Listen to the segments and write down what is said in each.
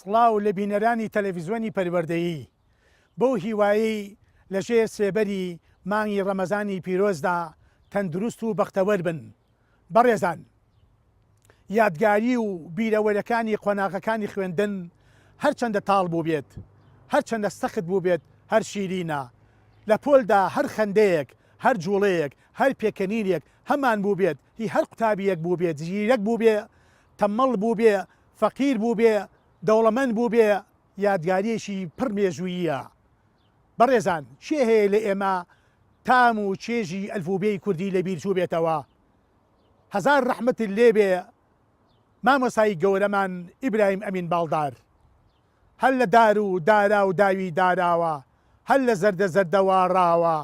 سڵاو لە بینەرانی تەلەڤیزیۆنی پەروەردەیی بەو هیوایی لەژێر سێبەری مانگی ڕەمەزانی پیرۆزدا تەندروست و بەختەوەر بن بەڕێزان یادگاری و بیرەوەرەکانی قۆناغەکانی خوێندن هەرچەندە تاڵ بووبێت، هەرچەندە سەخت بووبێت هەر شیرینە، لە پۆلدا هەر خەندەیەک، هەر جوڵەیەک، هەر پێکەنینێک هەمان بووبێت، هی هەر قوتابییەک بووبێت، زیرەک بووبێ، تەمەڵ بووبێ، فەقیر بووبێ، دەوڵەمەند بووبێ، یادگارییەکی پڕ مێژووییە. بەڕێزان کێ هەیە لە ئێمە تام و چێژی ئەلفوبێی کوردی لە بیر چوبێتەوە؟ هەزار ڕەحمەتت لێ بێ مامۆستای گەورەمان ئیبراهیم ئەمین باڵدار. هەر لە دار و دارا و داوی داراوە، هەر لە زەردە زەردە واڕاوە،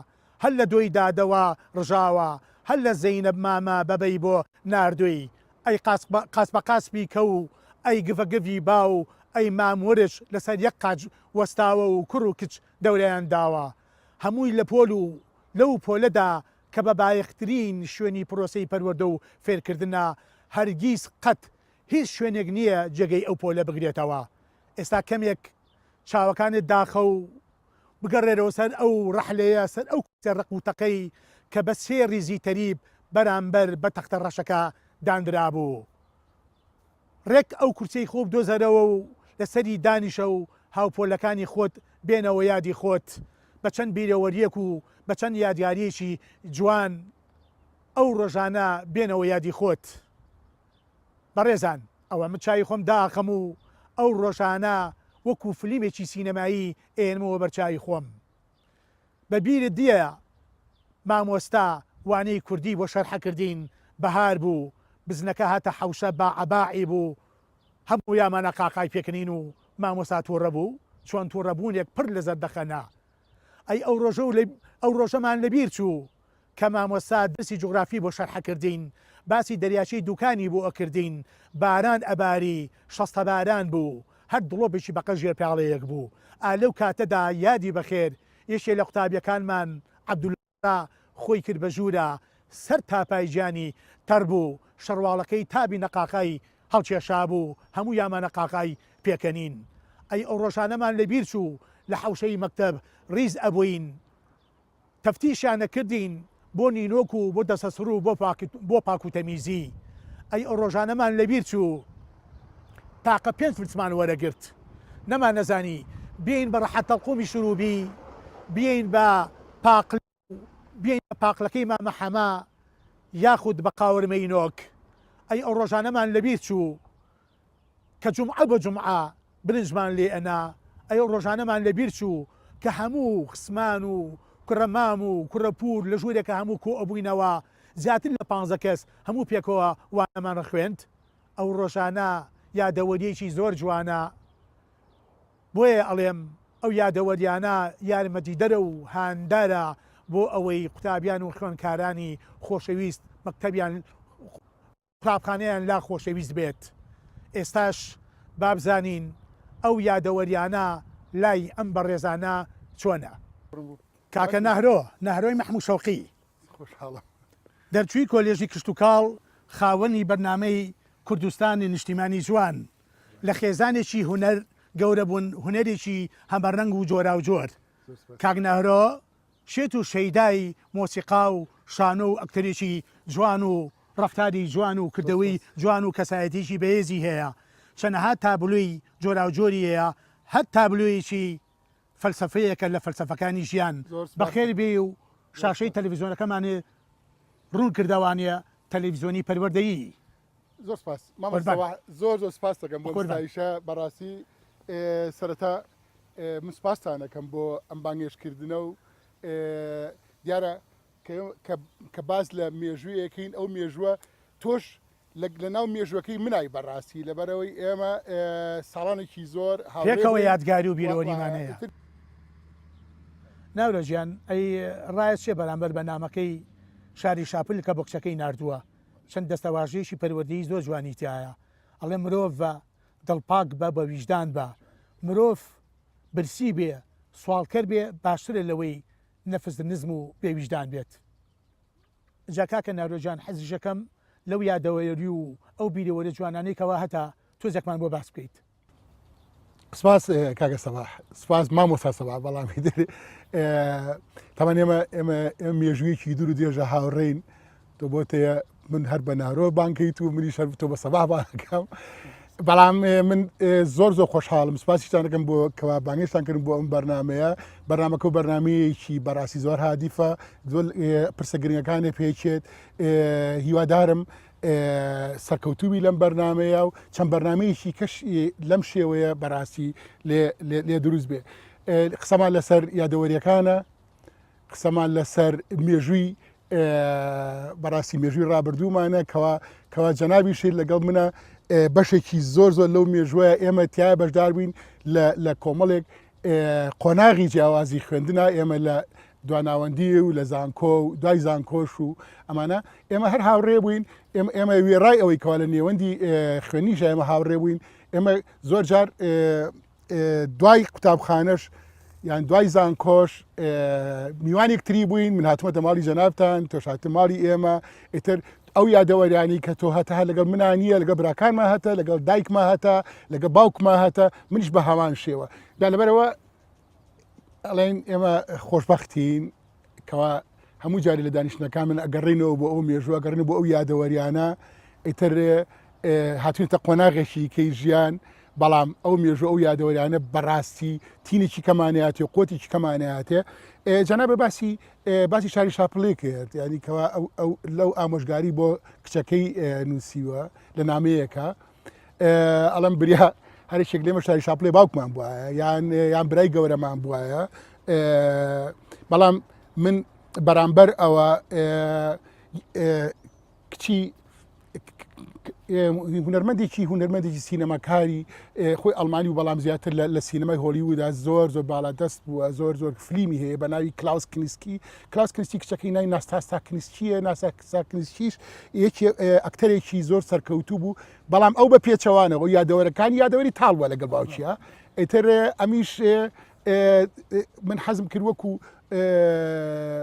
هەر لە دۆی دادەوە ڕژاوە هەر لە زەینەب مامە بەبەی بۆ ناردووی ئەی قاچ قاچ بە قاچبی کەو و ئەی گڤە گڤی باو و ئەی مام ورچ لە سەر یەک قاچ وەستاوە و کوڕ و کچ دەوریان داوە هەمووی لە پۆل و لەو پۆلەدا کە بە بایەخترین شوێنی پرۆسەی پەروەردە و فێرکردنە هەرگیز قەت هیچ شوێنێک نییە جێگەی ئەو پۆلە بگرێتەوە ئێستا کەمێک چاوەکانت داخە و بگەڕێرەوە سەر ئەو ڕەحلەیە، سەر ئەو کوچە ڕەق و تەقەی کە بە سێ ڕیزی تەریب بەرامبەر بە تەختە ڕەشەکە داندرابوو. ڕێک ئەو کورسیەی خۆو بدۆزەرەوە و لە سەری دانیشە و هاوپۆلەکانی خۆت بێنەوە یادی خۆت، بە چەند بیرەوەریەک و بە چەند یادگاریەکی جوان ئەو ڕۆژانە بێنەوە یادی خۆت. بەڕێزان ئەوە من چاوی خۆم داخەم و ئەو ڕۆژانە وەکو فلیمێکی سینەمایی ئەیەنمەوە بەر چاوی خۆم بە بیرت دیە مامۆستا وانەی کوردی بۆ شەرحە کردین بەهار بوو بزنەکە هاتە حەوشە باعەباعی بوو هەموو یامانە قاقای پێکنین و مامۆستا توڕە بوو چۆن توڕە بوونێک پڕ لە زەردەخەنە ئەی ئەو ڕۆژە و لەی ئەو ڕۆژەمان لەبیر چوو کە مامۆستا درسی جوغرافی بۆ شەرح ئەکردین باسی دەریاچەی دوکانی بۆ ئەکردین باران ئەباری شەستە باران بوو هەر دڵۆپێکی بەقە ژێر پیاڵەیەک بوو ئا لەو کاتەدا یادی بەخێر یەکێ لە قوتابیەکانمان عەبدولا تا خۆی کرد بە ژوورە سەر تاپای گیانی تەڕ بوو، شەڕواڵەکەی تابی نەقاقای هەڵکێشابوو، هەموو یامانە قاقای پێکەنین. ئەی ئەو ڕۆژانەمان لە بیر چوو لە حەوشەی مەکتەب ڕیز ئەبووین تەفتیشیان ئەکردین بۆ نینۆک و بۆ دەستە سڕ و بۆ پاک و تەمیزی. ئەی ئەو ڕۆژانەمان لە بیر چوو تاقە پێنج فلسمان وەرەگرت نەمانەزانی بێین بە ڕەحەتەڵقومی شروبی بێین بە پاقلە و بێینە پاقلەکەی مامە حەمە یاخود بە قاورمەی نۆک ئەی ئەو ڕۆژانەمان لەبیر چوو کە جومعە بە جومعە برنجمان لێ ئەنا ئەی ئەو ڕۆژانەمان لەبیر چوو کە هەموو خسمان و کوڕە مام و کوڕە پوور لە ژوورێکە هەموو کۆ ئەبووینەوە زیاتر لە پانزە کەس هەموو پێکەوە وانەمان ڕخوێند ئەو ڕۆژانە یادەوەریەکی زۆر جوانە. بۆیە ئەڵێم ئەو یادەوەریانە یارمەتیدەرە و هاندارە بۆ ئەوەی قوتابیان و خوێنکارانی خۆشەویست مەکتەبیان قوتابخانەیان لا خۆشەویست بێت. ئێستاش با بزانین ئەو یادەوەریانە لای ئەم بەڕێزانە چۆنە؟ کاکە نهرۆ، نهرۆی مەحموو شەوقی، دەرچووی کۆلێژی کشتوکاڵ، خاوەنی بەرنامەی کوردستان نیشتیمانی جوان، لە خێزانێکی هونەر گەورە بوون، هونەرێکی هەمەرەنگ و جۆراوجۆر. کاک نەهرۆ شێت و شەیدای مۆسیقا و شانۆ و ئەکتەرێکی جوان و ڕەفتاری جوان و کردەوەی جوان و کەسایەتییەکی بەهێزی هەیە. چەنەها تابلۆی جۆراوجۆری هەیە، هەر تابلۆیەکی فەلسەفەیەکە لە فەلسەفەکانی ژیان. بەخێر بێی و شاشەی تەلەفیزیۆنەکەمانی ڕوون کردەوانە تەلەفیزیۆنی پەروەردەیی. زۆر سپاس مامۆستا قوربان. سەباح زۆر زۆر سپاستەکەم بۆ قوربان. ستایشە بەڕاستی ئێ، سەرەتا ئێ، من سپاستانەکەم بۆ ئەم بانگێشتکردنە و ئێ، دیارە کە ئێوە کە کە باس لە مێژوویەکەین ئەو مێژووە تۆش لە لەناو مێژووەکەی منای بەڕاستی لەبەرئەوەی ئێمە ئێ، ساڵانێکی زۆر هاورێ پێکەوە بووین یادگاری و و و بیرۆریمان هەیە. ئیتر ناورە گیان ئەی ڕایە چیە بەرامبەر بە نامەکەی شاری شاپل کە بۆکچەکەی ناردووە چەند دەستەواژەیەکی پەروەردەیی زۆر جوانی تیایە ئەڵێ مرۆڤە دڵ پاک بە بە ویژدان بە مرۆڤ برسی بێ سواڵکەر بێ باشترە لەوەی نەفس نزم و بێ ویژدان بێت جا کاکە نارۆ جان حەزیشەکەم لەو یادەوەری و ئەو بیرەوەرە جوانانەی کەوا هەتە تۆزێکمان بۆ باس بکەیت. سپاس کاگە سەباح سپاس مامۆستا سەبا بەڵامی دەێ تەمان ئێمە ئێمە ئێمە مێژوویەکی دوور و دێژە هاوڕین تۆ بۆ تەیە من هەر بە نارۆ بانکەیت و منی شەر تۆ بە سەبا بانەکەم بەڵام من زۆر زۆر خۆشحاڵم سپاسیشتان دەکەم بۆ کەوا بانگشتان کردن بۆ ئەم بەرنمەیە بەرنمەکە و بەرنمەیەکی بەڕاستی زۆر هادیفە پرسە گرنگەکانی پێچێت هیوادارم سەرکەوتوبی لەم بەرنمەیە و چەند بەرنمەیەکی کەش لەم شێوەیە بەراستی لێ دروست بێ قسەمان لەسەر یادەوەریەکانە قسەمان لەسەر مێژووی بەڕاستی مێژووی ڕابردوومانە کەوا کەوا جەنابی شیر لەگەڵ منە بەشێکی زۆر زۆر لەو مێژوەیە ئێمە تیا بەشدار بووین لە کۆمەڵێک قۆناغی جیاوازی خوێندنا ئێمە لە دواناوەندی و لە زانکۆ و دوای زانکۆش و ئەمانە ئێمە هەر هاوڕێ بووین ئێمە وێڕای ئەوەی کەوا لە نێوەندی خوێنی ژایمە هاوڕێ بووین ئێمە زۆر جار دوای قوتابخانەش یان دوای زانکۆش میوانێکتری بووین من هاتمە دەماڵی جەنابان تۆشاتە ماڵی ئێمە ئیتر ئەو یادەوەریانی کە تۆ هەتە هەر لەگەڵ منا نییە لەگە براکانما هەتە لەگەڵ دایکما هەتە لەگە باوکما هەتە منیش بە هەمان شێوە دا لەبەرەوە ئەڵێن ئێمە خۆشببختین کەوا هەموو جاری لە دانیشتەکان من ئەگەڕینەوە بۆ ئەو مێژوە گەڕین بۆ ئەو یادەوەریانە ئیتر هاتوینەتە قۆناغێکی کەی ژیان بەڵام ئەو مێژوو ئەو یادەوەریانە بەڕاستی تینێکی کەمانەتی و قوتێکی کەمانەتێ جەنا بە باسی باسی شاری شاپلی کرد ینی کەوا لەو ئامۆژگاری بۆ کچەکەی نووسیوە لە نامەیەەکە ئەڵم بریا هەرشێک لێمە شاری شاپلی باوکمان بواە یان یان برای گەورەمان بواە بەڵام من بەرامبەر ئەوە کچی هونەرمەندێکی هونەرمەندێکی سینەماکاری خۆی ئەلمانی و بەڵام زیاتر لە سینەمای هۆلیودا زۆر زۆر باڵا دەست بووە زۆر زۆر فلیمی هەیە بە ناوی کلااوس کنیسکی کلااس کنیستی کچەکەی نای ناستاستا کنیسکیە ناساکسا کنیسکیش یەکی ئەکتەرێکی زۆر سەرکەوتوو بوو بەڵام ئەو بە پێچەوانەوە یادەوەرەکانی یادەوەری تاڵوە لەگەڵ باوکیە ئەتر ئەمیش من حەزم کرد وەکو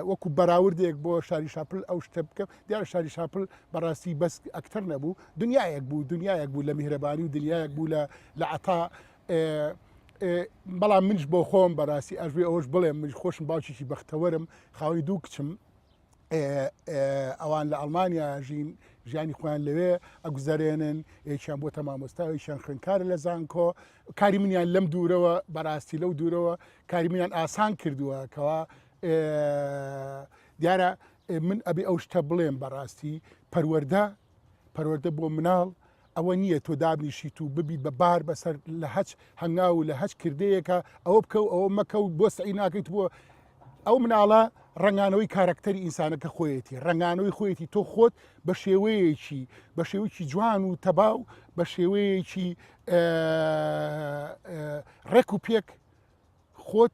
وەکو بەراوردێک بۆ شاری شاپل ئەو شتە بکەم دیارە شاری شاپل بەڕاستی بەس ئەکتەر نەبوو دنیایەک بوو دنیایەک بوو لە میهرەبانی و دنیایەک بوو لە لە عتا بەڵام منش بۆ خۆم بەڕاستی ئەژێ ئەوش بڵێم منش خۆشم باوکیی بەختەوەرم خاوەنی دوو کچم ئەوان لە ئەڵمانیا ژین ژیانی خۆیان لەوێ ئەگوزارێنن یەکیان بۆ تەمامۆستا یەکیان خوێنکارە لە زانکۆ کاری منیان لەم دوورەوە بەڕاستی لەو دوورەوە کاری منیان ئاسان کردووە کەوا دیارە ئێ من ئەبێ ئەو شتە بڵێم بەڕاستی پەروەردە پەروەردە بۆ مناڵ ئەوە نییە تۆ دابنیشیت و ببیت بە بار بەسەر لە هەچ هەنگاو و لە هەچ کردەیەکە ئەوە بکە و ئەوە مەکە و بۆ سعی ناکەیت بۆ ئەو مناڵە ڕنگانەوەی کارەکتەری ئینسانەکە خۆیەتی ڕنگانەوەی خۆیەتی تۆ خۆت بە شێوەیەکی بە شێوەیەکی جوان و تەبا و بە شێوەیەکی ڕێک و پێک خۆت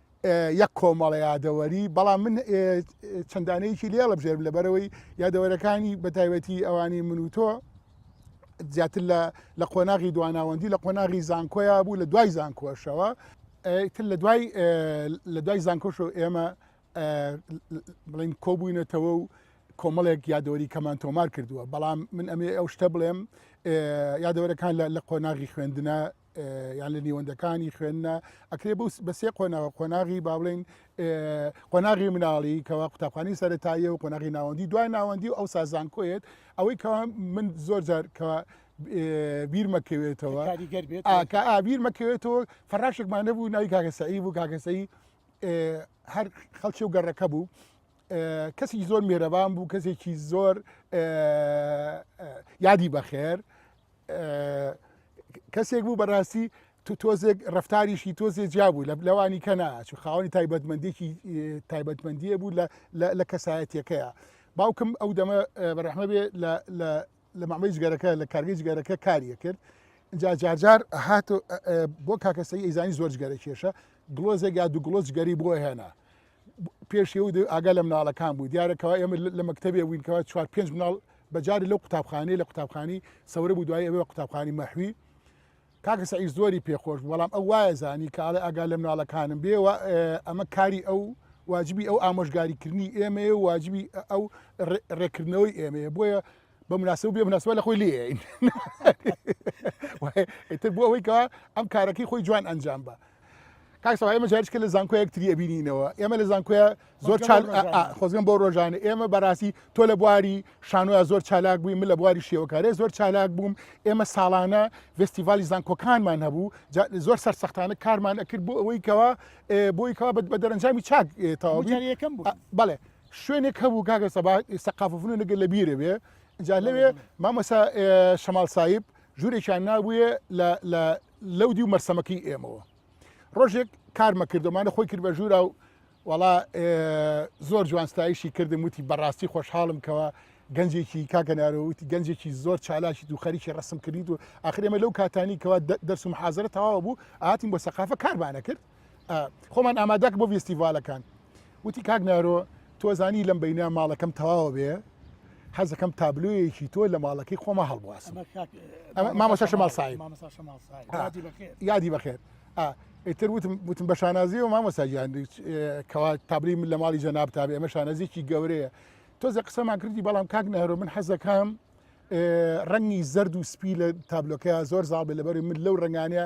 یەک کۆمەڵە یادەوەری بەڵام من چەندانەیەکی لێ هەڵبژێرم لەبەرەوەی یادەوەرەکانی بە تایبەتی ئەوانی من و تۆ زیاتر لە قۆناغی دواناوەندی لە قۆناغی زانکۆیا بوو لە دوای زانکۆشەوە تر لە دوای لە دوای زانکۆش و ئێمە بڵین کۆبووینەتەوە و کۆمەڵێک یادەوەری کەمان تۆمار کردووە بەڵام من ئەمێ ئەو شتە بڵێم یادەوەرەکان لە قۆناغی خوێندنە یان لە نیوەندەکانی خوێندنە ئەکرێ بە سێ قۆناغ قۆناغی باڵێن قۆناغی مناڵی کەوا قوتابخانی سەرتاییە و قۆناغی ناوەندی دوای ناوەندی و ئەو سازان کۆیت ئەوەی کەوا من زۆر جار کەوا بیر مەکەوێتەوە کە ئابیر مەکەوێتەوە فەراشێکمان نەبوو ناوی کاگەسەعی بوو کاگەسەی هەر خەڵکی و گەڕەکە بوو کەسی زۆر مێرەبان بوو کەسێکی زۆر یادی بەخێر کەسێک بوو بەڕاستی تو تۆزێک ڕفتاریشی تۆزێ جیا بوو لە لەوانی کە ناچ خاوەنی تایبەتمەندێکی تایبەتمەندیە بوو لە کەسایەتەکەیە باوکم ئەو دەمە بەرەحمە بێ لە مامەی جگەرەکە لە کارگەی جگەرەکە کاریە کرد جا جارجار هات بۆ کاکەسەی ئەیزانی زۆر جگەرە کێشە گڵۆزێک یا دوو گڵۆز گەری بۆ هێنا پێش ئێوە دەوێت ئاگا لە مناڵەکان بوو دیارە کەوا ئێمە لە مەکتتەبێ بووین کەوا چوار پێنج مناڵ بەجاری لەو قوتابخانەی لە قوتابخانی سەورە بوو دوای ئەوێ قوتابخانی مەحوی کاکە سعی زۆری پێخۆش بەڵام ئەو وایە زانی کە ئاڵێ ئاگا لە مناڵەکانم بێ ئەمە کاری ئەو واجبی ئەو ئامۆژگاریکردنی ئێمەیە واجبی ئەو ڕێکردنەوەی ئێمەیە بۆیە بە مناسب بێ مناسبە لە خۆی لێین ئیتر بۆ ئەوەی کەوا ئەم کارەکەی خۆی جوان ئەنجام بە کاکسەوە ئێمە جارشکە لە زانکۆ یەکتری ئەبینینەوە ئێمە لە زانکۆە زۆر خۆزگەم بۆ ڕۆژانە ئێمە بەڕاستی تۆ لە بواری شانۆە زۆر چالاک بووی من لە بواری شێوەکارێ زۆر چالاک بووم ئێمە ساڵانە فستیڤالی زانکۆکانمان هەبوو زۆر سەرسەختانە کارمان ئەکرد بۆ ئەوەی کەەوە بۆی کەوا بە دەرەنجامی چاک تاویەکەم بڵێ شوێنێک هەبوو کاکە سەبا سەقاف فنون نەگەر لە بیرە بێ جا لەوێ مامەسا شەمال سایب ژوورێکیان نابووە لەو دی و مەرسەمەکەی ئێمەوە ڕۆژێک کارمە کردمانە خۆی کرد بە ژوورا و وڵا زۆر جوانستایشی کردم وتی بەڕاستی خۆشحاڵم کەەوە گەنجێکی کاکەنارەوتی گەنجێکی زۆر چالاکی و خەریکی ڕسم کردیت و ئاخرێمە لەو کاتانی کەوا دەرسم حازرە تەواوە بوو ئاتیم بۆ سەقافە کارمانە کرد خۆمان ئامادەک بۆ ویستیڤالەکان وتی کاک نارۆ تۆزانی لەم بینە ماڵەکەم تەواوە بێ حەزەکەم تابلویەکی تۆ لە ماڵەکەی خۆمە هەڵبواس مامۆسا شەماڵ سای یادی بەخێت ئیتر وتم وتم بە شانازی و مامۆساجیان کەوا تابلی من لە ماڵی جەناب تابێ ئەمە شانازیکی گەورەیە تۆزە قسەمان کردی بەڵام کاک نەهرۆ من حەزەکەم ڕەنگی زرد و سپی لە تابلۆکەیە زۆر زاڵ بێ لەبەر من لەو ڕنگانەیە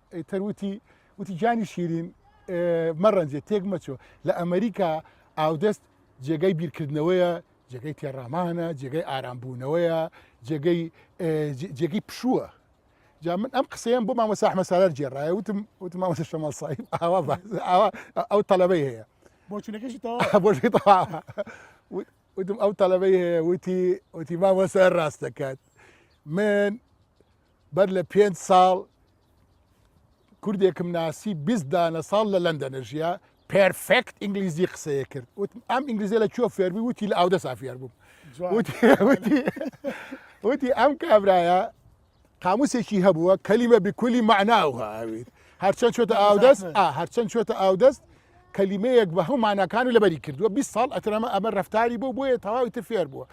ئیتر وتی وتی جانی شیرین مەڕەنجێ تێک مەچۆ لە ئەمریکا ئاودەست جێگای بیرکردنەوەیە جێگەی تێڕامانە جێگەی ئارامبوونەوەیە جێگەی جێگەی پشووە جا من ئەم قسەیەم بۆ مامە ساحمە سالار جێڕایە وتم وتم مامەسە شەمەڵ ساحب ئاوا ئاوا ئەو تەلەبەی هەیە بۆچونەکەشی بۆشی وتم ئەو تەلەبەی هەیە وتی وتی مامەسە ڕاست دەکات من بەر لە پێنج ساڵ کوردێکم ناسی بیست دانە ساڵ لە لەندەنە ژیا پرفکت ئینگلیزی قسەیە کرد وتم ئەم ئینگلیزی لە کوێ فێربی وتی لە ئاودە سافیار بووم وتی ئەم کابرایە قاموسێکی هەبووە کەلیمە بکلی معناوها ئاویت هەرچەند چۆتە ئاودەست هەرچەند چۆتە ئاودەست کەلیمەیەک بە هەو ماناکان و لەبەری کردووە بی ساڵ ئەترەمە ئەمە ڕفتاری بۆ بۆیە تەواوی تر فێر بووە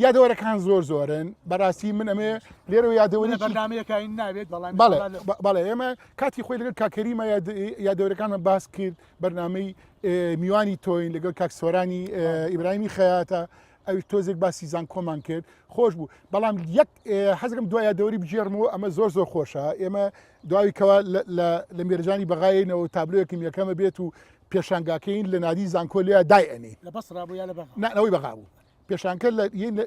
یادەوەرەکان زۆر زۆرن بەڕاستی من ئەمێ لێرە یادەوەری بەنامەکەی ناوێت بەڵێ ئێمە کاتی خۆی لەگەر کاکەریمە یادەوەرەکانمە باس کرد بەرنمەی میوانی تۆین لەگەڵ کاکسۆرانی ئیبراهیمی خەیاتە ئەوی تۆزێک باسی زانکۆمان کرد خۆش بوو بەڵام یەک حەزەکەم دوایە دەوری بگێڕمەوە ئەمە زۆر زۆر خۆشە ئێمە داوی کەوا لە مێرجانی بەغایەوە تابلۆیەکم یەکەمە بێت و پێشانگاکەین لە نادی زانکۆ لە دای ئەنی نەوەی بەغا بوو پێشانکە لە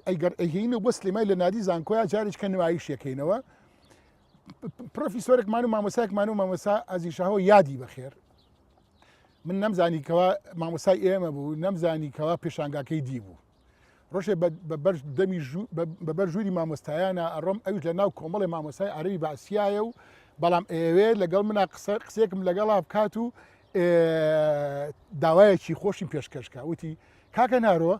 ئەیگەر ئەهین و بۆ سلێمای لە نادی زانکۆیا جارێککە نمایشەکەینەوە پرۆفیسۆرێکمان و مامۆساکمان و مامۆسا ئازیشەوە یادی بەخێر من نەمزانی کەوا مامۆسای ئێمە بوو نەمزانی کەوا پێشانگاکەی دی بوو ڕۆژێ دەمی بەبەر ژووری مامۆستایانە ئەڕۆم ئەوش لە ناو کۆمەڵی مامۆسای عربی باسیایە و بەڵام ئەوێ لەگەڵ منە قسە قسێکم لەگەڵا بکات و داوایەکی خۆشی پێشکەشکە وتی کاکە نارۆ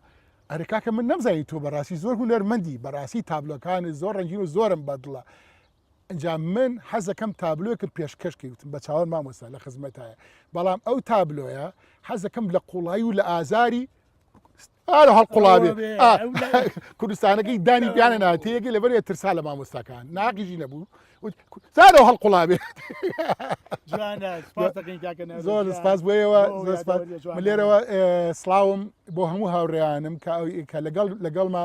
ئەرە کاکە من نەمزانی تۆ بەڕاستی زۆر هوەرمەندی بەڕاستی تابلۆکانت زۆر ڕنگین و زۆرم بەدڵە ئینجا من حەزەکەم تابلۆکم پێشکەش کەوتم بە چاوان مامۆستا لە خزمەتایە بەڵام ئەو تابلۆیە حەزەکەم لە قوڵایی و لە ئازاری ئارە هەڵ قوڵاوێ کوردستانەکەی دانی بیانە ناتەیەکی لەبەر ترسا لە مامۆستاکان ناقیژی نەبوو زارە هەڵ قوڵاوێ زۆر سپاس بۆیەوە لێرەوە سلااوم بۆ هەموو هاوڕێیانم کە ئەوکە لەگەڵ لەگەڵما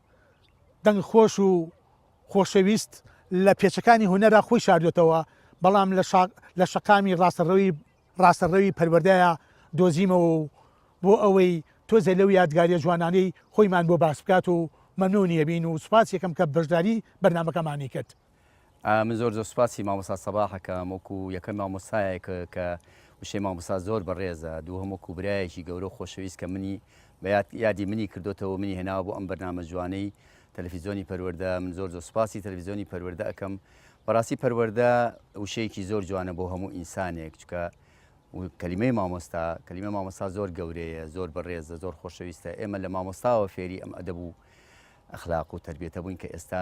دەنگ خۆش و خۆشەویست لە پێچەکانی هونەرا خۆی شاردووەتەوە، بەڵام لە شەقامی ڕاستەڕەوی ڕاستەڕەوی پەروەردەیا دۆزیمەوە و بۆ ئەوەی تۆزێ لەو یادگاریە جوانانەی خۆیمان بۆ باس بکات و مەمنونی ئەبین و سوپاسی ئەکەم کە بەشداری بەرنامەکەمانی کرد. من زۆر زۆر سوپاسی مامۆستا سەباح ئەکەم وەکو یەکەم مامۆستایەک کە وشەی مامۆستا زۆر بەڕێزە دووهەم وەکو برایەکی گەورە و خۆشەویست کە منی بەیاد یادی منی کردوتەوە منی هێناوە بۆ ئەم بەرنامە جوانەی تەلەفیزیۆنی پەروەردە من زۆر زۆر سوپاسی تەلەفیزیۆنی پەروەردە ئەکەم بەڕاستی پەروەردە وشەیەکی زۆر جوانە بۆ هەموو ئینسانێک چکە کەلیمەی مامۆستا کەلیمە مامۆستا زۆر گەورەیە زۆر بەڕێزە زۆر خۆشەویستە ئێمە لە مامۆستاوە فێری ئەم ئەدەبوو ئەخلاق و تربێتە بووین کە ئێستا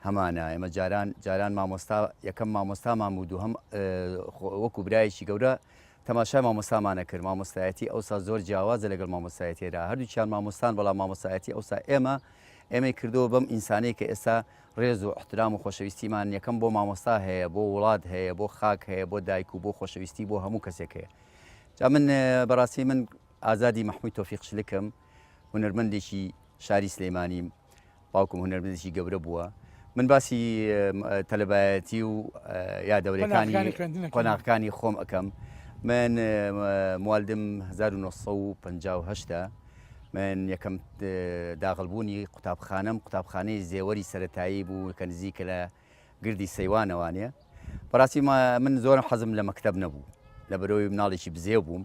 هەمانە ئێمە جاران جاران مامۆستا یەکەم مامۆستامان بوو دووهەم وەکو برایەکی گەورە تەماشای مامۆستامانە کرد مامۆستایەتی ئەوسا زۆر جیاوازە لەگەڵ مامۆستایەتێرا هەردووچیان مامۆستان بەڵام مامۆستایەتی ئەوسا ئێمە ئێمەی کردەوە بەم ئینسانەی کە ئێستا ڕێز و احترام و خۆشەویستیمان یەکەم بۆ مامۆستا هەیە بۆ وڵات هەیە بۆ خاک هەیە بۆ دایک و بۆ خۆشەویستی بۆ هەموو کەسێک هەیە جا من بەڕاستی من ئازادی مححموی تۆفیق شلکم هونەرمەندێکی شاری سلەیمانیم باوکم هونەرمەندێکی گەورە بووە من باسی تەلەبایەتی و یا دەورەکانی قۆناغەکانی خۆم ئەەکەم من موالدم 1950 من یەکەم داغلبوونی قوتابخانم قوتابخانەی زێوەری سەتایی بوو کە نزیکە لە گردی سەیوانەوانە بەڕاستی من زۆرم حەزم لە مەکتب نەبوو لە بەرەوەی مناڵێکی بزێ بووم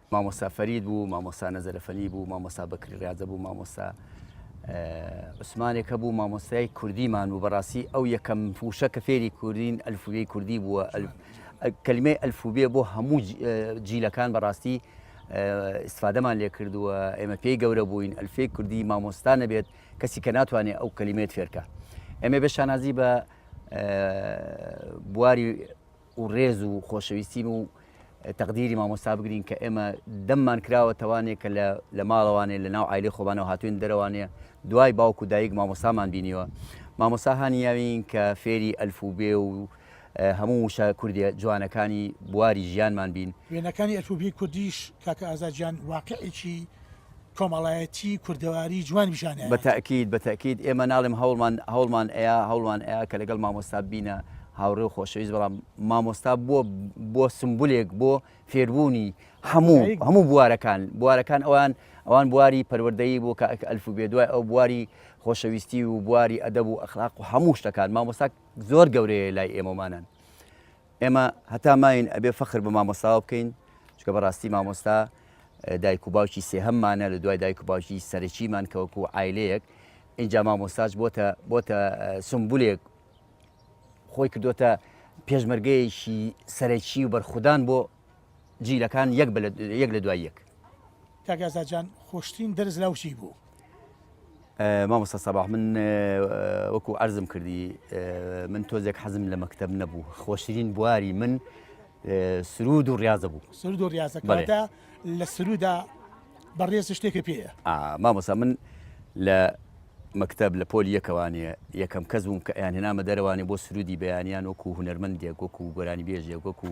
مامۆستا فەرید بوو، مامۆستا نەزەرەفەنی بوو، مامۆستا بەکری ڕاجە بوو، مامۆستا عوسمانێک هەبوو مامۆستای کوردیمان بوو بەڕاستی ئەو یەکەم فوشە کە فێری کوردین ئەلفوبێی کوردی بووە کلمەی ئەلفوبێ بۆ هەموو جیلەکان بەڕاستی استفادەمان لێ کردووە ئێمە پێی گەورە بووین ئەلفێ کوردی مامۆستا نەبێت کەسی کە ناتوانێت ئەو کللیمێت فێرکە ئێمە بە شانازی بە بواری و ڕێز و خۆشەویستین و تەقدیری مامۆستا بگرین کە ئێمە دەممان کراوە تەوانێ کە لە لە ماڵەوانێ لە ناو عیلی خۆبانەوە هاتوین دەرەوانێ دوای باوک و دایک مامۆسامان بینیوە مامۆسا هانیاوین کە فێری ئەلف و بێ و هەموو وشە کوردێ جوانەکانی بواری ژیانمان بین وێنەکانی ئەلفوبێی کوردیش کاکە ئازاد جان واقعێکی کۆمەڵایەتی کوردەواری جوان بژانایە. بە تەئکید بە تەئکید ئێمە ناڵێم هەوڵمان هەوڵمان ئەیا هەوڵمان ئەیا کە لەگەڵ مامۆستا بینە هاوڕێ و خۆشەویست بەڵام مامۆستا بۆ بۆ سمبولێک بۆ فێربوونی هەموو هەموو بوارەکان بوارەکان ئەوان ئەوان بواری پەروەردەیی بۆ کە ئەلف و بێ دوای ئەو بواری خۆشەویستی و بواری ئەدەب و ئەخلاق و هەموو شتەکان مامۆستا زۆر گەورەیە لای ئێمەمانان ئێمە هەتا ماین ئەبێ فەخر بە مامۆستاوە بکەین چکە بەڕاستی مامۆستا دایک و باوکی سێهەممانە لە دوای دایک و باوکی سەرەکیمان کەوەکو و ئایلەیەک اینجا مامۆستاج بۆتە بۆتە سمبولێک خۆی کردوتە پێشمەرگەیەکی سەرەکی و بەرخودان بۆ جیلەکان یەک بە یەک لە دوای یەک. کاک ئازاد جان خۆشترین دەرس لاو چی بوو؟ مامۆستا سەباح من وەکو عەرزم کردی من تۆزێک حەزم لە مەکتب نەبوو خۆشترین بواری من سرود و ڕاضە بوو سرود و ڕاستەکەدا لە سرودا بەڕێز شتێکە پێ مامۆستا من لە مەکتب لە پۆل یەکەوانێ یەکەم کەس بووم کە یان هێنامە دەرەوانێ بۆ سرودی بەیانیان وەکو هوەرمەندێک وەکو گۆرانی بێژێک وەکو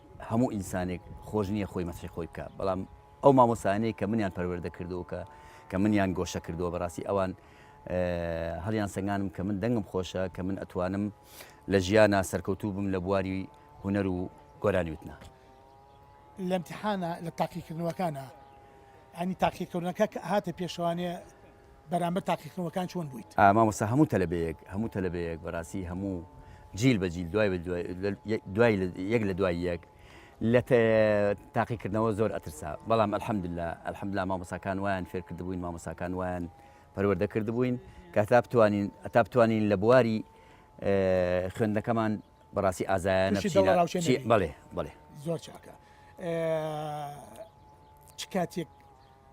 هەموو ئینسانێک خۆش نییە خۆی مەسحی خۆی بکە بەڵام ئەو مامۆسانەیە کە منیان پەروەردە کردووە کە کە منیان گۆشە کردووە بەڕاستی ئەوان هەڵیان سەنگانم کە من دەنگم خۆشە کە من ئەتوانم لە ژیانە سەرکەوتوو بم لە بواری هوەر و گۆرانیوتنا لە امتحانە لە تاقیکردنەوەکانە ئەنی تاقیکردنەکە هاتە پێشوانێ بەرامبەر تاقیکردنەوەکان چۆن بوویت؟ مامۆستا هەموو تەلەبەیەک هەموو تەلەبەیەک بەڕاستی هەموو جیل بە جیل دوای دوای یەک لە دوای یەک لە تاقیکردنەوە زۆر ئەترسا بەڵام ئەلحەمدللا ئەلحەمدلا مامۆساکان وایان فێر کردبووین مامۆساکان وایان پەروەردە کردبووین کە تا بتوانین ئەتا بتوانین لە بواری خوێندەکەمان بەڕاستی ئازایانە بڵێ بڵێ زۆر چاکە چ کاتێک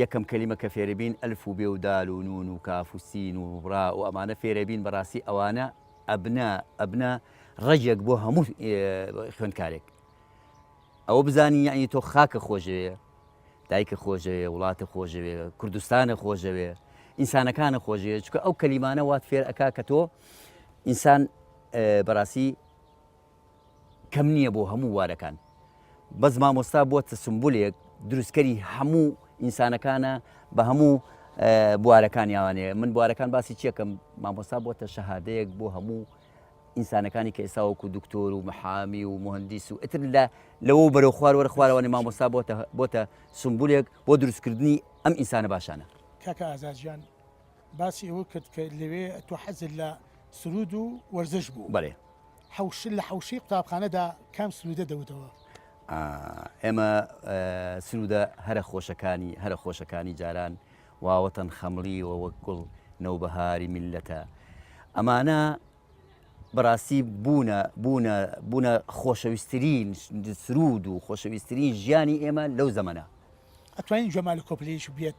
یەکەم کەلیمە کە فێربین ئەلف و بێ و دال و نون و کاف و سین و ڕا و ئەمانە فێرەبین بەڕاستی ئەوانە ئەبنە ئەبنە ڕەگێک بۆ هەموو خوێندکارێک ئەوە بزانین یعنی تۆ خاکە خۆشەوێ دایکە خۆشەوێ وڵاتە خۆشەوێ کوردستانە خۆشەوێ ئینسانەکانە خۆشەوێ چکە ئەو کەلیمانە وات فێر ئەک کە تۆ ئینسان بەڕاستی کەم نیە بۆ هەموو بوارەکان بەس مامۆستا بوەتە سمبولێک دروستکەری هەموو ئینسانەکانە بە هەموو بوارەکانیانێ من بوارەکان باسی چیەکەم مامۆستا بوەتە شەهادەیەک بۆ هەموو ئینسانەکانی کە ئێساوەکو دکتۆر و محامی و مهندیس و ئتر لە لەوە بەرەو خوار وەرە خوارەوەی مامۆستا بۆتە بۆتە سمبولێک بۆ دروستکردنی ئەم ئینسانە باشانە کاکە ئازاجیان باسی ئەوە کرد کە لەوێ تۆ حەزت لە سرود و وەرزش بوو بەێ حوش لە حوشی قوتابخانەدا کام سرودە دەوتەوە ئێمە سرودە هەرە خۆشەکانی هەرە خۆشەکانی جاران واوەتەن خەمڵی و وەک گوڵ نەوبەهاری میلەتە ئەمانە بەڕاستی بوونە بوونە بوونە خۆشەویستترین سرود و خۆشەویستترین ژیانی ئێمە لەو زەمەە ئەتوانین جەمال کۆپلیش بێت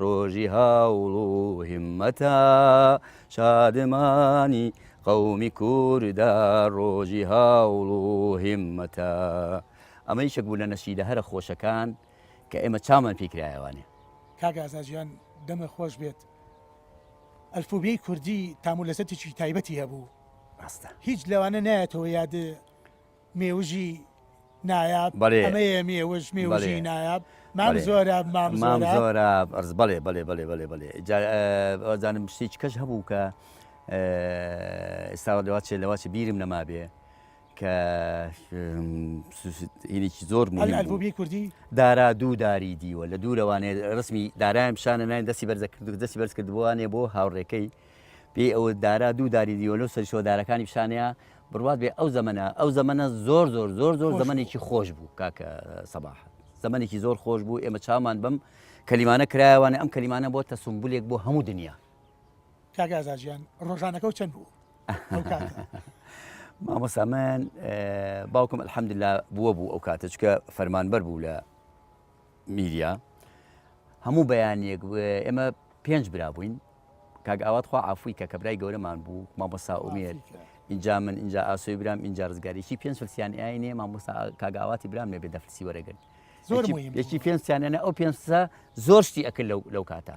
ڕۆژی هەوڵ و هیممەتە شادمانی قەومی کوردە ڕۆژی هەوڵ و هیممەتە ئەمە یشک بوو لە نەشیدە هەرە خۆشەکان کە ئێمە چامان پێی کرایەوانێ. کاک ئازا جیان دەمت خۆش بێت ئەلفوبێی کوردی تام و لەزەتێکی تایبەتی هەبوو ڕاستە هیچ لەوانە نایەتەوە یادت مێوژی نایاب بەڵێ ئەمەیە مێوژ مێوژی بەڵێ نایاب مام بەڵێ زۆراب مام مام زۆراب. زۆراب ئەرز بەڵێ بەڵێ بەڵێ بەڵێ بەڵێ جا وازانم شتێکی کەش هەبوو کە ئێستا لەوا چێ لەوا چێ بیرم نەمابێ کە هینێکی زۆر مهم بوو ئەلبومی کوردی دارا دوو داری دیوە لە دوورەوانێ ڕسمی دارایم شانە ناین دەستی بەرزە کرد و دەستی بەرز کردبووانێ بۆ هاوڕێکەی پێی ئەوە دارا دوو داری دیوە لەو سەرشەوە دارەکانی پیشانەیە بڕوات بێ ئەو زەمەنە ئەو زەمەنە زۆر زۆر زۆر زۆر زەمەێکی خۆش بوو کاکە سەباح زەمەێکی زۆر خۆش بوو ئێمە چامان بم کەلیمانە کرایوانە ئەم کەلیمانە بۆ تەسمبولێک بۆ هەموو دنیا کاگازاجیان ڕۆژانەکە و چەند بوو مامۆسامان باوکم الحەمدلا بووە بوو ئەو کاتەچکە فەرمانبەر بوو لە میریا هەموو بەیانیەک ئێمە پێنج برا بووین کاک ئاوات خوا عفوی کە کە برای گەورەمان بوو مامۆسا ئومێر اینجا من اینجا ئاسۆی برام اینجا ڕزگاریی پێنج فلسیان ئاینێ مامۆسا کاگاواتی برام نەبێ دەفرسی وەرەگرن یەکی پێنجیانە ئەو پێنجسا زۆر شتی ئەکرد لەو لەو کاتە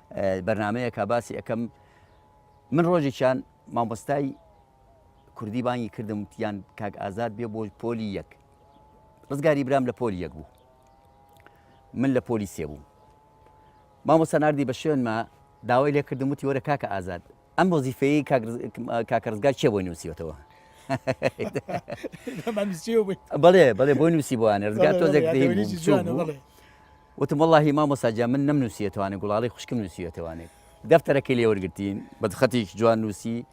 بەرنامەیەکە باسی ئەەکەم من ڕۆژێکیان مامۆستای کوردی بانگی کردم وتیان کاک ئازاد بێ بۆ پۆلی یەک ڕزگاری برام لە پۆلی یەک بوو من لە پۆلی سێ بووم مامۆستا نردی بە شوێنمە داوای لێ کردم وتی وەرە کاکە ئازاد ئەم وەزیفەیە کاکە ڕزگار چێ بۆی نووسیوەتەوە بەڵێ بەڵێ بۆی نووسی بۆیان ڕزگار تۆ دەکرێت وتم وەڵاهی مامۆستا گیان من نەمنووسیەتەوانێ گوڵاڵەی خوشکم نووسیوەتەوانێ دەفتەرەکەی لێ وەرگرتین بە خەتێکی جوان نووسی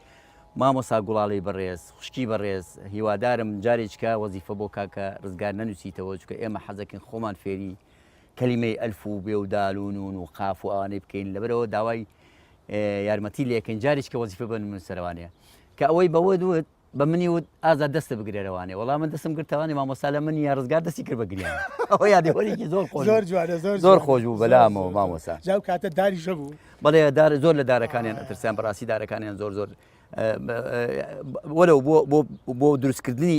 مامۆستا گوڵاڵەی بەڕێز خوشکی بەڕێز هیوادارم جارێکیکە وەزیفە بۆ کاکە ڕزگار نەنووسیتەوە چونکە ئێمە حەزەکەین خۆمان فێری کەلیمەی ئەلف و بێ و دال و نون و قاف و ئەوانەی بکەین لەبەرەوە داوای یارمەتی لێکەین جارێکیکە وەزیفە بە نووسەرەوانێ کە ئەوەی بەوە دوت بە منی وت ئازاد دەستت بگرێ لەوانێ وەڵا من دەستم گرت تەوانی مامۆستا لە منی یا ڕزگار دەستی کرد بە گریان ئەوە یادەوەریکی زۆر خۆش زۆر جوانە زۆر زۆر خۆش بوو بەلامەوە مامۆستا جاو کاتە داری ژە بوو بەڵێ دار زۆر لە دارەکانیان ئەترسیان بەڕاستی دارەکانیان زۆر زۆر وەرە بۆ بۆ دروستکردنی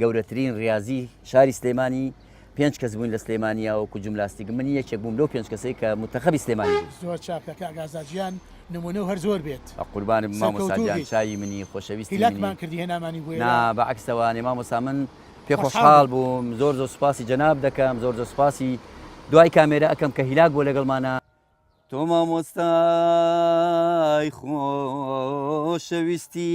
گەورەترین ریازی شاری سلێمانی پێنج کەس بووین لە سلێمانیا وەکو جملاستیک من یەکێک بووم لەو پێنج کەسەی کە متەخەبی سلێمانی بوو زۆر چاکە کاک ئازاد گیان نمونە و هەر زۆر بێت بە قوربانت بم مامۆستا سەرکەوتوو گیان بیت چاوی منی خۆشەویستی منی هیلاکمان کردی هێنامانی بۆ نا ئێرە بە عەکسەوە نێ مامۆستا من پێ خۆشحاڵ خۆشحاڵ بوو بووم زۆر زۆر سوپاسی جەناب دەکەم زۆر زۆر سوپاسی دوای کامێرا ئەکەم کە هیلاک بووە لەگەڵمانا. تۆ مامۆستای خۆشەویستی.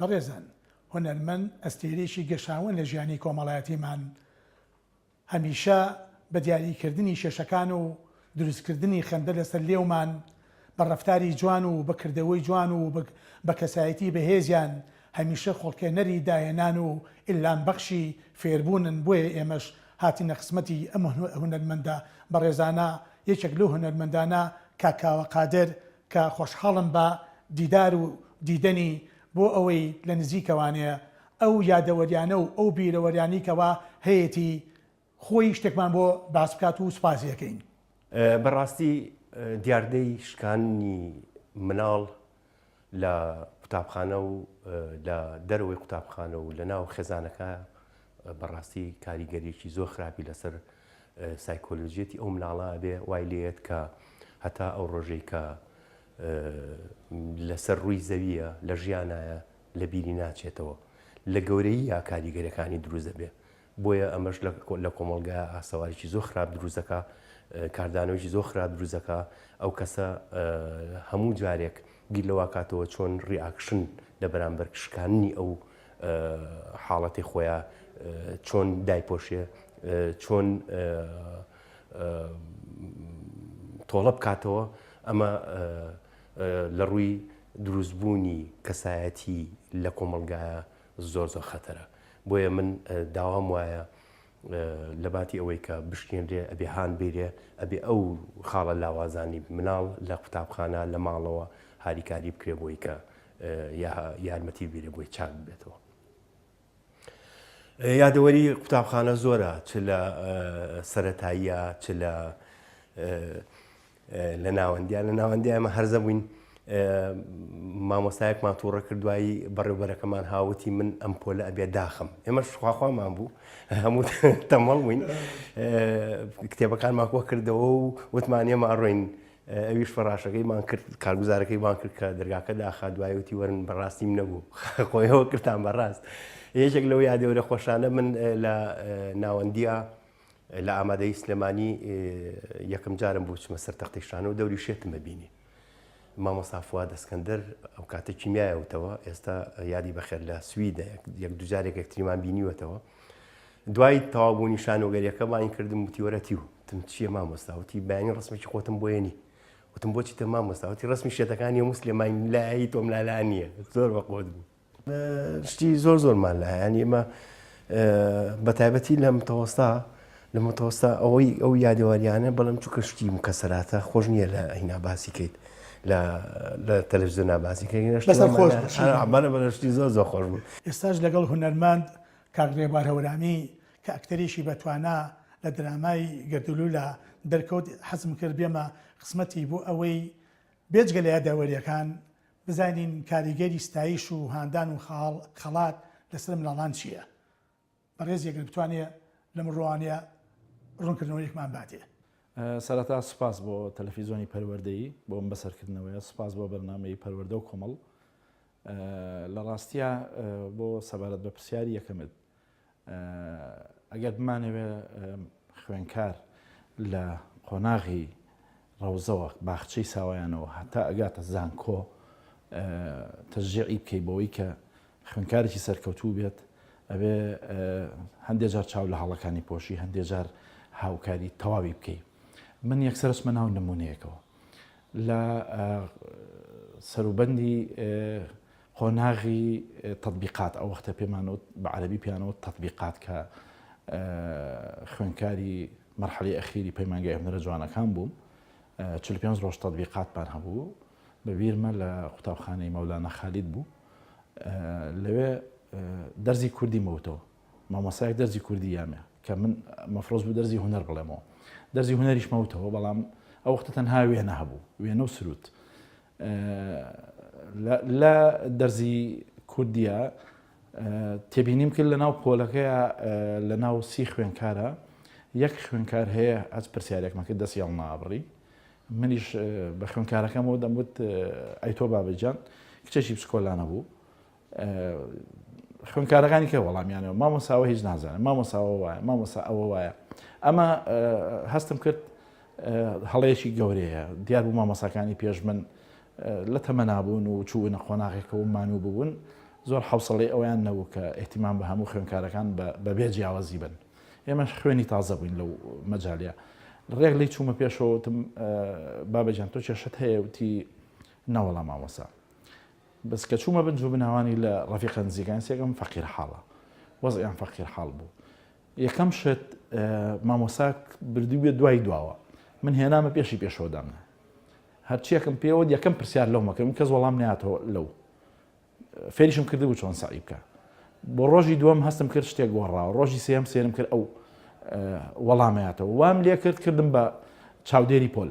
بەڕێزان هونەرمەند ئەستێرەیەکی گەشاوەن لە ژیانی کۆمەڵایەتیمان هەمیشە بە دیاری کردنی کێشەکان و دروستکردنی خەندە لەسەر لێومان بە ڕەفتاری جوان و بە کردەوەی جوان و بە کەسایەتی بەهێزیان هەمیشە خۆڵکێنەری داهێنان و ئیلهام بەخشی فێربوونن، بۆیە ئێمەش هاتینە خزمەتی ئەم هونەرمەندە بەڕێزانە، یەکێک لەو هونەرمەندانە کاک کاوە قادر کە خۆشحاڵم بە دیدار و دیدەنی بۆ ئەوەی لە نزیکەوانێ ئەو یادەوەریانە و ئەو بیرەوەریانی کەوا هەیەتی خۆی شتێکمان بۆ باس بکات و سوپاسی ئەکەین. بەڕاستی دیاردەی شکاننی مناڵ لە قوتابخانە و لە دەرەوەی قوتابخانە و لە ناو خێزانەکە بەڕاستی کاریگەریەکی زۆر خراپی لەسەر سایکۆلۆژیەتی ئەو مناڵە بێ وای لێت کە هەتا ئەو ڕۆژەی کە لەسەر ڕووی زەویە لە ژیانایە لە بیری ناچێتەوە لە گەورەیی یا کاریگەرەکانی دروست دەبێ بۆیە ئەمەش لە کۆمەڵگایا ئاسەواریی زۆر خراپ دروست دەکا، کاردانەوەیەکی زۆر خراپ دروست دەکا، ئەو کەسە هەموو جارێک بیر لەوە کاتەوە چۆن ڕیاکشن لە بەرامبەر شکاننی ئەو حاڵەتەی خۆیا چۆن دایپۆشێ، چۆن تۆڵە بکاتەوە، ئەمە لە ڕووی دروستبوونی کەسایەتی لە کۆمەڵگایا زۆر زۆر خەتەرە بۆیە من داوام وایە لەباتی ئەوەی کە بشکێنرێ ئەبێ هاان بیرێ ئەبێ ئەو خاڵە لاوازانی مناڵ لە قوتابخانە لە ماڵەوە هاریکاری بکرێ بۆی کە یارمەتی بیرێ بۆی چاک بێتەوە. یادەوەری قوتابخانە زۆرە چ لە سەتاییە چ لە لە ناوەندیان لە ناوەندی ئەمە هەرزە بووین مامۆستایەکمان تووڕە کردوایی بەڕێوبەرەکەمان هاوتی من ئەم پۆلە ئەبێ داخم ئێمە شخواخوامان بوو هەموو تەمەڵ بووین کتێبەکان ماکۆ کردەوە و وتمانە ماڕۆین ئەویش فەڕاشەکەیمان کرد کارگوزارەکەی بان کرد کە دەرگاکە داخا دوایوتی وەرن بەڕاستیم نەبوو خۆیەوە کردان بەڕاست یەکێک لەو یادەوەرە خۆشانە من لە ناوەندیە لە ئامادەیی سلێمانی یەکەم جارم بۆ چمە سەر تەختی شانە و دەوری شێتم ببینی مامۆستا فواد اسکندر ئەو کاتە کیمیایەوتەوە ئێستا یادی بەخێر لە سویدە یەک دوجارێک یەکتریمان بینیوەتەوە دوای تەوابوونی شانۆگەریەکە باین کردم وتیوەرەتی و تم چیە مامۆستاوتی بەیانی ڕسمێکی خۆتم بۆیەنی وتم بۆچی تە مامۆستاوتی ڕسمی شێتەکانی مسلێمای لای تۆم لالا نییە زۆر بەقۆت بوو شتی زۆر زۆرمان لە هەیە ئەمە بەتایبەتی لە متەوەستا لە متەوەستا ئەوەی ئەو یادەوەریانە بەڵم چووکە شتی مکەسەراتە خۆش نییە لە هینا باسی کەیت لە تەلەزیۆن ناباسی کەینەشتمانە بەشتی زۆر زۆر خۆش بوو ئێستاش لەگەڵ هونەرمەند کاکرێبار هەورامی کە ئەکتەرێکی بەتوانا لە درامای گەردلو لە دەرکەوت حەزم کرد بێمە قسمەتی بۆ ئەوەی بێجگە لە یادەوەریەکان بزانین کاریگەری ستایش و هاندان و خاڵ خەڵات لەسەر منداڵان چییە؟ بەڕێزی ئەگەر بتوانێ لەم ڕوانیە ڕونکردنەوەیەکمان باتێ. سەرەتا سوپاس بۆ تەلەفیزۆنی پەروەردەیی بۆ ئەم بەسەرکردنەوەیە، سوپاس بۆ بەرنامەی پەروەردە و کۆمەڵ. لە ڕاستیا بۆ سەبارەت بە پرسیاری یەکەمت، ئەگەر بمانەوێت خوێنکار لە قۆناغی ڕەوزەوە، باخچەی ساوایانەوە هەتا ئەگاتە زانکۆ تەشجیعی بکەی بەوەی کە خوێنکارێکی سەرکەوتوو بێت، ئەبێ هەندێ جار چاو لە هەڵەکانی پۆشی، هەندێ جار هاوکاری تەواوی بکەی. من یەکسەر ئەچمە ناو نموونەیەکەوە. لە سەروبەندی قۆناغی تەتبیقات، ئەو وەختە پێمان وت، بە عەرەبی پێیان وت تەتبیقات، کە خوێندکاری مەرحەلەی ئەخیری پەیمانگای هونەرە جوانەکان بووم، چل و پێنج ڕۆژ تەتبیقاتمان هەبوو، بە بیرمە لە قوتابخانەی مەولانا خالید بوو، لەوێ دەرزی کوردیم وتەوە، مامۆستایەک دەرزی کوردی یامێ، کە من مەفرۆز بوو دەرزی هونەر بڵێمەوە، دەرزی هونەریشمە وتەوە، بەڵام ئەو وەختە تەنها وێنە هەبوو، وێنە و سروود. لە دەرزی کوردیا تێبینیم کرد لەناو پۆلەکەیا لەناو سی خوێنکارە یەک خوێنکار هەیە ئەس پرسیارێکمە کرد دەستی هەڵ نابڕی منیش بە خوێنکارەکەمەوە دەموت ئەی تۆ بابەجان کچێکی پسکۆلانە بوو خوێنکارەکانی کە وەڵامیانەوە مامۆساوە هیچ نازانە مامۆساوە وایە مامۆسا ئەوە وایە ئەمە هەستم کرد هەڵەیەکی گەورەیە دیار بوو مامۆساکانی پێش من لە تەمەنابوون و چوونە قۆناغێکەوە مانوو ببوون زۆر حوسڵی ئەویان نەبوو کە احتیمان بە هەموو خوێنکارەکان بەبێ جیاوازی بن ئێمەش خوێنی تازە بووین لەو مەجاالە ڕێک لی چوومە پێشەوەتم بابەجان تۆ کێشت هەیە وتی ناوەڵام مامۆسا بەس کە چوومە بن جووبناوانی لە ڕەفیقە نزیکان سێکم فەقیر حاڵە وەزعیان فەقیر حاڵ بوو یەکەم شت مامۆساک بردی بێ دوای دواوە من هێنامە پێشی پێشەوەدامە هەرچیەکەم پێوە یەکەم پرسیار لەو مەکەم کەس وەڵام ناتەوە لەو فێریشم کردبوو چۆن سعی بکە بۆ ڕۆژی دووەم هەستم کرد شتێک گۆڕا ڕۆژی سێم سێرم کرد ئەو وەڵامەتەوە وام لێ کرد کردم بە چاودێری پۆل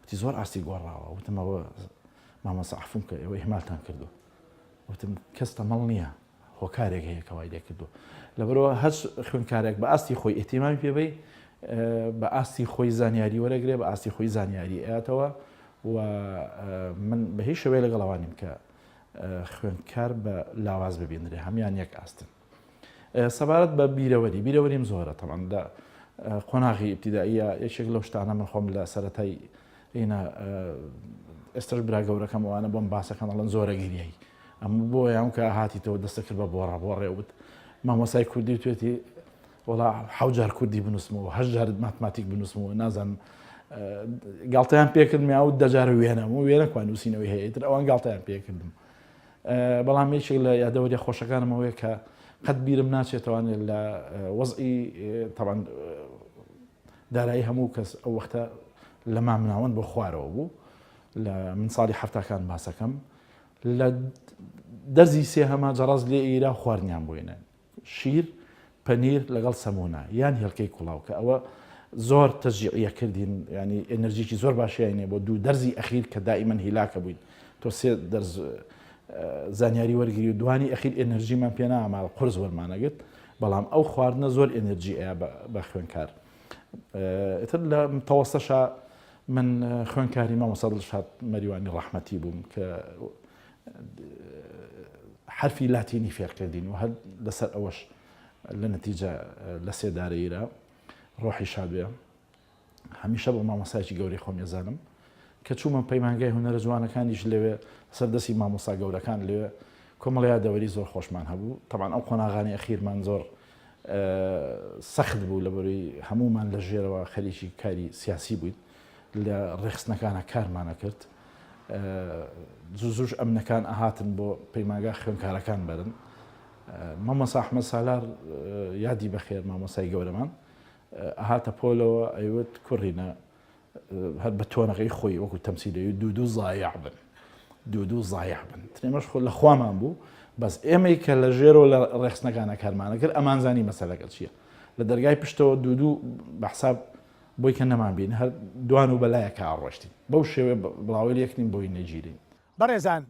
وتی زۆر ئاستی گۆڕاوە وتم ئەوە مامۆستا عەفوم کە ئێوە ئیهمالتان کردووە وتم کەس تەمەڵ نییە هۆکارێک هەیە کە وای لێ کردووە لەبەرەوە هەر خوێندکارێک بە ئاستی خۆی ئێتیمامی پێبی بە ئاستی خۆی زانیاری وەرەگرێ بە ئاستی خۆی زانیاری ئەاتەوە و من بە هیچ شوێ لەگەڵەوانیم کە خوێندکار بە لاواز ببینرێ هەمان یەک ئاستن سەبارەت بە بیرەوەری بیرەوەریم زۆرە تەمان لە قۆناغی ئیبتیداییە یەکێک لەو شتانە من خۆم لە سەتای ئینە ئێستش برا گەورەکەم ئەوانە بۆم باسەکەم ئەڵەن زۆرە گریایی ئەم بۆ یان کە هاتیتەوە دەستە کرد بە بۆ ڕەبۆڕێ وت مامۆسای کوردی توێتی وڵا حوجار کوردی بنووسمەوە هەژارت ماتماتیک بنووسمەوە نازانم گاڵتەیان پێکردمیا و دەجارە وێنەم و وێنەکوان نووسینەوەی هەیەتر ئەوان گاڵتەیان پێکردم بەڵام یەکێک لە یادەوەریە خۆشەکانم ئەوەیە کە قەت بیرم ناچێتوانێت لە وەزئی تەبان دارایی هەموو کەس ئەو وەختە لە مامناوەند بۆ خوارەوە بوو لە من ساڵی هەفتاکان باسەکەم لە دەزی سێ هەما جەڕاز لێ ئیرا خواردنیان بۆینە شیر، پەنیر لەگەڵ سەمونە یان هێلکەی کوڵاو کە ئەوە زۆر تەشجیعیە کردین یانی ئێنەرجیکی زۆر باشیان هەیە بۆ دوو دەرزی ئەخیر کە دائیمەن هیلاکە بووین تۆ سێ دەرز زانیاری وەرگری و دوانی ئەخیر ئێنەرجیمان پێ نامال قرس وەرمانەگرت بەڵام ئەو خواردنە زۆر ئێنەرجی ئەیە بە خوێنکار ئتر لە تەوەستەشە من خوێنکاری مامۆسادڵ شاد مەریوانی ڕەحمەتی بووم کە حەرفی لاتینی فێر کردین و هەر لەسەر ئەوەش لە نەتیجە لە سێدارەیرا ڕۆحی شادێ هەمیشە بۆ مامۆسایکی گەوری خۆم ێزانم کە چوومە پەیمانگای هونەرە جوانەکانیش لەوێ سەردەسی مامۆسا گەورەکان لێ کۆمەڵیا دەوەری زۆر خۆشمان هەبوو تەمان ئەو قۆناغانی ئەخیرمان زۆر سەخت بوو لەبەری هەمومان لە ژێرەوە خەریکی کاری سیاسی بووین لە ڕێکخستنەکانا کارمانە کرد زوو زووش ئەمنەکان ئەهاتن بۆ پەیماگا خوێنکارەکان بەرن مامۆسا ئەحمە سالار یادی بەخێر مامۆسای گەورەمان ئەهاتە پۆلەوە ئەیوت کوڕینە هەر بە تۆنەکەی خۆی وەکو تەمسیلی دوو دوو زایع بن دوو دوو زایع بن ترێمەش خۆ لە خوامان بوو بەس ئێمەی کە لە ژێرەوە لە ڕێخستنەکانە کارمانە کرد ئەمانزانی مەسەلەکە چییە لە دەرگای پشتەوە دوو دوو بەحساب بۆی کە نەمان بین هەر دوان و بە لایەکا ڕۆشتین بەو شێوەیە بڵاوەیل یەک نین بۆی نەگیرین. بەڕێزان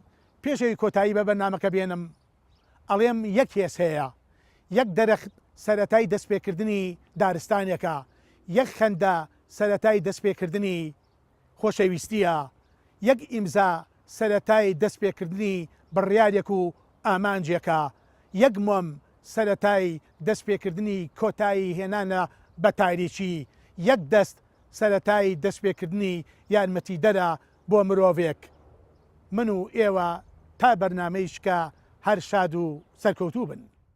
پێش ئەوی کۆتایی بە بەرنامەکە بێنم ئەڵێم یەک هێز هەیە یەک دەرخت سەرەتای دەسپێکردنی دارستانێکە یەک خەندە سەرەتای دەسپێکردنی خۆشەویستییە، یەک ئیمزا سەرەتای دەست پێکردنی بڕیارێک و ئامانجێکە، یەک مۆم سەرەتای دەست پێکردنی کۆتایی هێنانە بە تاریکی، یەک دەست سەرەتای دەست پێکردنی یارمەتیدەرە بۆ مرۆڤێک. من و ئێوە تا بەرنامەی شکا هەر شاد و سەرکەوتوو بن.